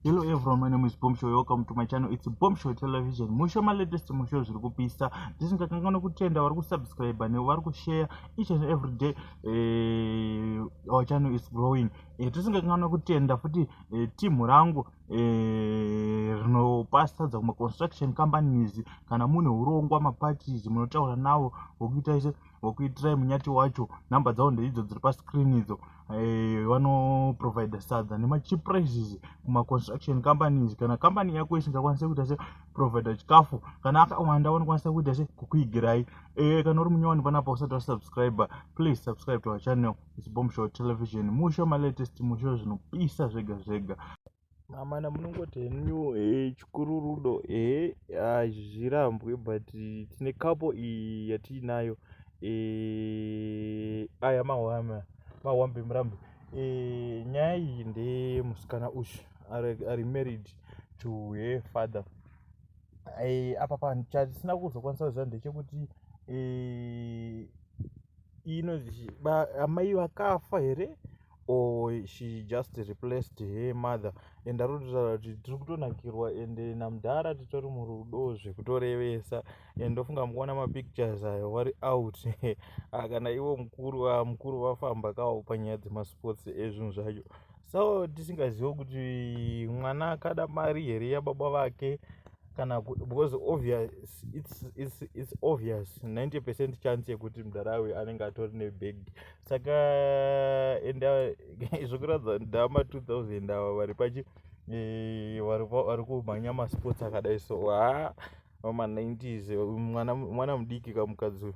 Hello everyone, my name is Bombshow. Welcome to my channel. It's Bombshow Television. Musho my latest musho zviri kupisa. Ndisingakanganwe kutenda vari kusubscribe ne vari kushare each and every day. Eh, our channel is growing. Eh, tisingakanganwe kutenda futi eh, team rangu eh, rinopasa dzamwe construction companies kana mune urongwa maparties munotaura nawo wokuita ise vokuitirai munyati wacho number dzavo ndeidzo dziri pascreen idzo eh, vanoprovidha sadza nemacheap prices kumaconstruction companies kana company yako isingakwanise kuita se providha chikafu kana akawanda vanokwanisa kuita se kukuigirai eh, kana uri munyowani panapa usati wasubscribe please subscribe to our channel is bombshot television musho malatest musho zvinopisa zvega zvega amana munongoti henyu e chikuru rudo e hazvirambwe but tine kapo iyi yatiinayo e aya mahwama mahwambe murambe e nyaya iyi ndemusikana uyu ari married to her father e, apa panhu chatisina kuzokwanisa kuziva ndechekuti e, inonzi amai vakafa here or she just replaced her mother and arikutaura kuti tiri kutonakirwa and namudhara titori murudo zvekutorevesa and ndofunga mukuona mapictures ayo wari out ah, kana ivo mukuru ah, mukuru vafamba kawo panyaya dzemasports ezvinhu zvacho so tisingazive kuti mwana akada mari here yababa vake kana because obvious it's, it's, it's obvious 90 percent chance yekuti mudhara uyu anenge atori nebag saka enda zvekuratidza ndama 2000 ava vari pachi eh, vari kumhanya masports akadai so haa vama 90s mwana mudiki kamukadzi uyu